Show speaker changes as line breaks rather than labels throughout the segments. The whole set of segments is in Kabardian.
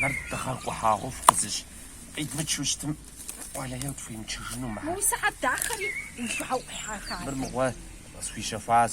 Нэр дыгъэр къухьагъуэфӏ къызыщӏ къидмычу щытым, уэлэхьи тхуимычыжыну мыхьэ. Мы сыхьэт дахэри
узыгъэӏухьа хабзэм. Мыр мыгъуэ
къысхуищэхуащ.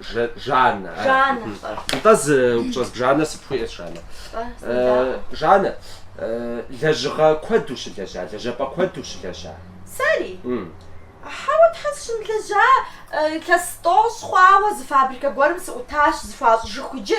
Ж, Жаннэ. а, Жаннэ, мхм. фӏэ. Нтӏэ
зы упщӏэ сып, Жаннэ, сыпхуиӏэщ, Жаннэ? Фӏэ, Э, сынодаӏуэ. Жаннэ, э, лэжьыгъэ куэд ущылэжьа, лэжьапӏэ куэд ущылэжьа? Сэри?
Мм. Хьэуэ, тхьэ сыщымылэжьа, э, илъэс тӏощӏ хъуауэ зы фабрикэ гуэрым сыӏутащ, зэхуащӏыжыху иджы.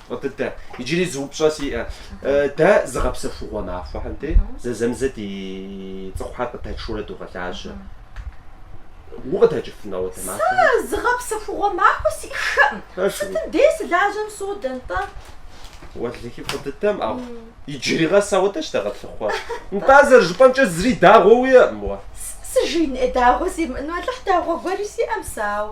Дыдэ, иджыри зы упщӏэ сиӏэ. Дэ зыгъэпсэхугъуэ махуэхэм дей зэзэмызэ ди цӏыхухэр къыдэтшурэ догъэлажьэ. Укъыдэкӏыфынэ уэ дэ махуэхэм? Сэ зыгъэпсэхугъуэ
махуэ сиӏэххэкъым. Сытым дей сылажьэм содэ нтӏэ. Уэлэхьи
фӏы дыдэм, ауэ иджыри гъэсауэ дэ щыдэгъэлъыхъуэ. Нтӏэ зэрыжыпӏэмкӏэ зыри дагъуэ уиӏэкъым уэ. Сыжиин ӏей
дагъуэ зимыӏэну, Алыхь дагъуэ гуэри сиӏэм сэ, ауэ.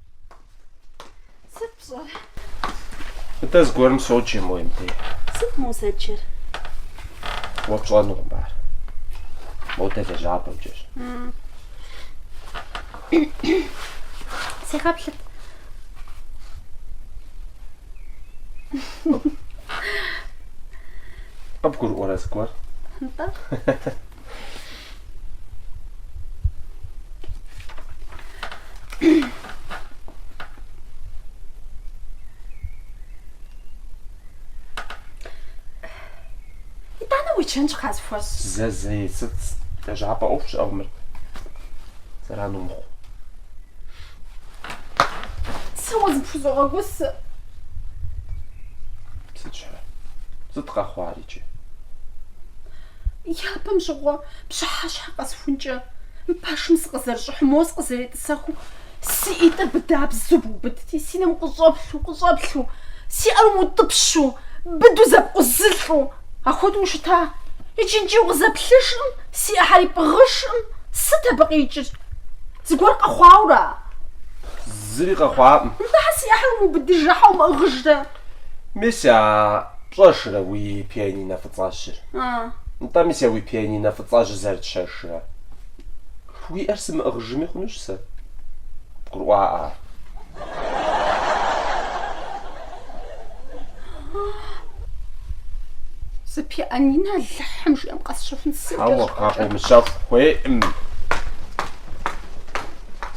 Сыт
пщӏэр? Мыдэ зыгуэрым соджэ мо емдей. Сыт мо узэджэр? Уэ пщӏэнукъым ар. Модэ лэжьапӏэмкӏэщ. Сегъэплъыт. Къыбгурыӏуэрэ зыгуэр? Нтӏэ.
итӏанэ уи чэнджэщ къысхуэщӏ. Зэ зэи сыт
лэжьапӏэ ӏуэху щыӏэу мыр зэран
умыхъу. Сэ уэ зыпхузогъэгусы.
Сыт щхьэ? Сыт къэхъуари?
Япэм щыгъуэ пщыхьэщхьэ къэсыхункӏэ, мы пэшым сыкъызэрыщӏыхьу, моуэ сыкъызэретӏысэхыу, си ӏитӏыр быдабзэу быубыдти, си нэм къыщӏэплъу, къыщӏэплъу, си ӏэр умыутӏыпщу, быду зэпкъузылӏу, ахуэдэу ущыта. Иджы иджы укъызэплъыжкъым, си ӏэхэри пӏыгъыжкъым, сыт абы къикӏыр? Зыгуэр къэхъуауэра?
Зыри къэхъуакъым. Нтӏэ, хьэ си
ӏэхэр умыубыдыжрэ хьэ умыӏыгъыжрэ? Мис
а пщӏэжрэ уи пианинэ фӏыцӏэжьыр? Нтӏэ, мис а уи пианинэ фӏыцӏэжьыр зэрытщэжрэ? Уи ӏэр сымыӏыгъыжыми хъунущ сэ, къыбгурыӏуакъэ ар.
Зы пианинэ Алыхьым жиӏэм къэсщэхун сыт? Хьэуэ, къэ,
къыумыщэху, хуейкъым.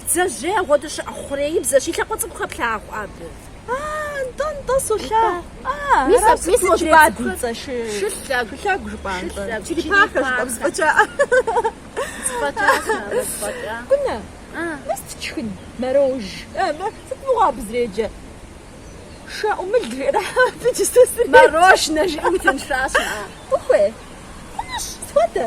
Бдзэжьей агъуэду щыӏэ хъуреибзэщ, и лъакъуэ цӏыкӏу хэплъагъу
абы. Нтӏэ-нтӏэ, солъагъу. Мис абы и хъуреибзэ цӏыкӏухэр
шылъэ, шылъэгу жыпӏэнщӏэ,
черепахэ
жыпӏэ,
зэфӏэкӏа. Зэфӏэкӏа, сабэ, зэфӏэкӏа. Кунэ, мис тшхын, мэрож. Сыт мыгъуэ абы зэреджэ? Шэӏумыл жиӏэрэ абы иджы сэ среджэ. Мэрожнэ жиӏэм
тынш жащӏэ. Къыхуей?
Хъунущ, схуэдэ.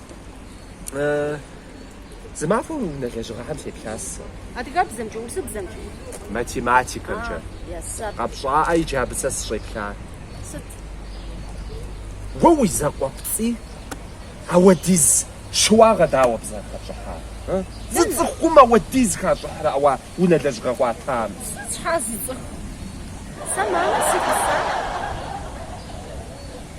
Зы махуэ уи унэ лэжьыгъэхэм сеплъащ сэ. Адыгэбзэмкӏэ,
урысыбзэмкӏэ?
Математикэмкӏэ. Къэпщӏаӏэ
иджы абы
сэ сыщӏеплар.
Сыт?
Уэ уи закъуэпцӏий ауэдиз щыуагъэ дауэ абы зэрыхэпщӏыхьа? Зы цӏыхум ауэдиз хищӏыхьрэ ауэ унэ лэжьыгъэ къыуатам? Щхьэ зы
цӏыху? Сэ мамэ си гъуса.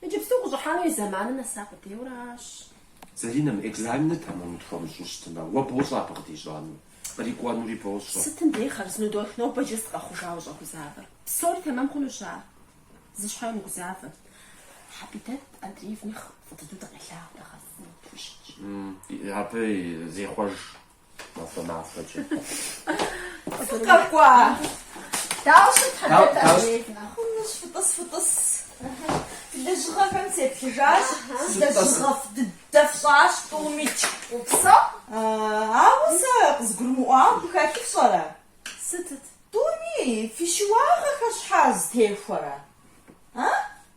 Иджыпсту къыщӏыхьэну и зэманыр нэса къудейуэрэ аращ.
Залинэм, экзаменыр тэмэму тхуэмыщӏу щытмэ, уэ бощӏэ абы къыдищӏэну, кърикӏуэнури бощӏэ. Сытым дей хъарзыну
дотх нобэ иджы сыт къэхъужауэ ущӏэгузавэр. Псори тэмэм хъунущ ар. Зы щхьэ умыгузавэ. Хьэбидэт Андреевни фӏы дыдэу дыкъелъагъу дагъэфыну тхущытщ.
Абы зехъуэж Махуэ махуэкӏэ.
Фыкъэкӏуа! Дауэ ущыт Хьэбидэт Андреевнэ? Хъунущ, фытӏыс, фытӏыс. Фи лэжьыгъэхэм сеплъыжащ сэ, лэжьыгъэфӏ дыдэ фщӏащ, тӏумикӏ. Упсэу. Ауэ сэ къызгурымыӏуауэ абы хэлъыр фщӏэрэ? Сытыт? Тӏуми, фи щыуагъэхэр щхьэ зэтехуэрэ? А?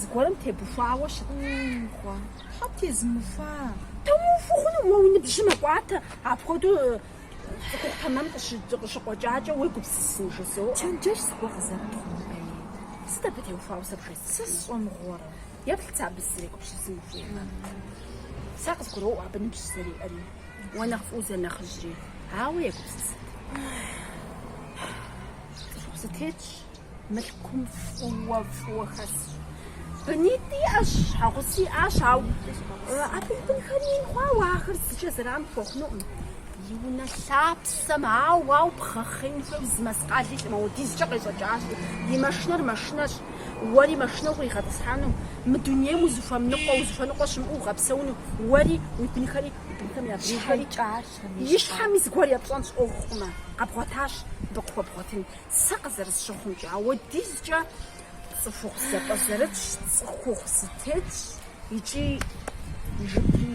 зыгуэрым тебухуауэ щытхъуэ.
Тхьэ тезмыухуа. Тумыухуэу
хъуну уэ уи ныбжьыр мэкӏуатэ, апхуэдэу Тэмэм къыщыкъуэкӏакӏэ уегупсысын жызоӏэ. Чэнджэщ
зыгуэр къызэрытхъуну дэи? Сыт
абы теухуауэ сэ бжесӏэ? Сэ сщӏэ
мыгъуэрэ? Еплъ сэ абы
сызэрегупсысын жиӏэмэ. Сэ къызгуроӏуэ абы ныбжь зэриӏэри, уэ нэхъ фӏыуэ зэрынэхъыжьри, ауэ егупсысыт. Цӏыху зэтетщ. Мылъкум фӏыуэ, фӏыуэ хэсщ. Бынитӏ иӏэщ, щхьэгъусэ иӏащ, ауэ абы и бынхэр ин хъуауэ ахэр зыкӏэ зэран хуэхъунукъым. И унэ лъапсэм ауэ, ауэ бгъэхъеин хуейуэ зы мэскъал илъкъым, ауэдизкӏэ къещӏэкӏащ. Ди машинэр машинэщ, уэри машинэ укъригъэтӏысхьэну, мы дунейм узыхуэмыныкъуэ, узыхуэныкъуэ щымыӏэу уигъэпсэуну, уэри, уи бынхэри, уи бынхэм я бынхэри. И щхьэми зыгуэр епщӏэнщ ӏуэху хъумэ, къэбгъуэтащ, абы къыхуэбгъуэтынт. Сэ къызэрысщыхъумкӏэ, ауэдизкӏэ цӏыхухъу зэпӏэзэрытщ, цӏыхухъу зэтетщ икӏи, жыпым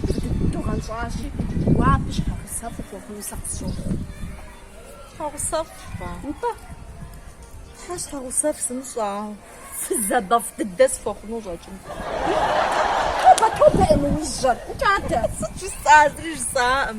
фӏы дыдэу гъэнщӏащи, уэ абы щхьэгъусэфӏ ухуэхъуну сэ къысщохъу. Щхьэгъусэфӏ?
Нтӏэ. Сэ щхьэгъусэфӏ сымыщӏэ, ауэ фызабэфӏ дыдэ сыхуэхъуну къыщӏэкӏынт. Тобэ-тобэ,
Эмуизжэ, укӏатэ!
Сыт
жысӏар? Зыри
жысӏаӏым.